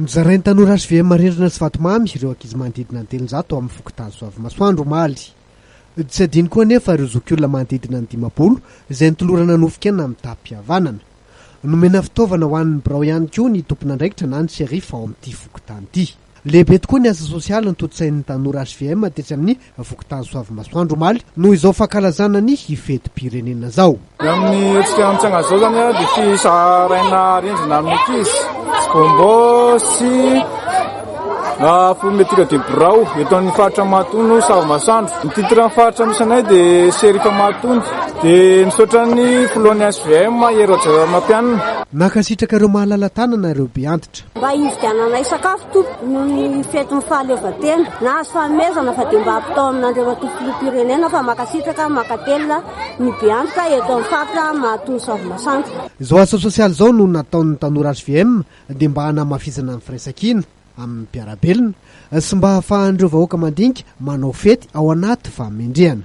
Nozarain'ny tanora HVM Marindrina sy Vatomamy ireo ankizy manodidina ny telonjato ao amin'ny fokontany Soavimasoandro, omaly. Tsy adino koa anefa ireo zokiolona manodidina ny dimampolo izay nitolorana nofon-kena amin'ny tapi-pihavanana. Nomena fitaovana ho an'ny birao ihany koa ny tompon'andraikitra na ny sheriff ao amin'ity fokontany ity. Lehibe tokoa ny asa sosialy notontosain'ny tanora hvm tetsy amin'ny fokontany Soavimasoandro omaly noho izao fankalazana ny fetim-pirenena izao. Ny amin'ny hetsika amin'ny tsangan'izao izany dia fisaharaina arendrina amin'ny ankizy sy Gombo sy Fourniture de birao eto amin'ny faritra Mahatono Savimasoandro. Ny titran'ny faritra misy anay dia Sheriff Mahatono. Dia misaotra ny filohan'ny hvm Hery Rajaonarimampianina. Nankasitraka ireo mahalala tanana ireo be antitra. Mba hividiananay sakafo tompoko noho ny fetin'ny fahaleovantena. Nahazo fanomezana fa dia mba hampitao amin'Andriamatoa Filoham-pirenena fa mankasitraka, mankatelina ny be antoka eto amin'ny faritra Mahatoa Savimasanto. Izao asa sosialy izao no nataon'ny tanora hvm dia mba hanamafisana ny firaisankina amin'ny mpiara-belona sy mba hahafahan'ireo vahoaka mandinika manao fety ao anaty fahamendrehana.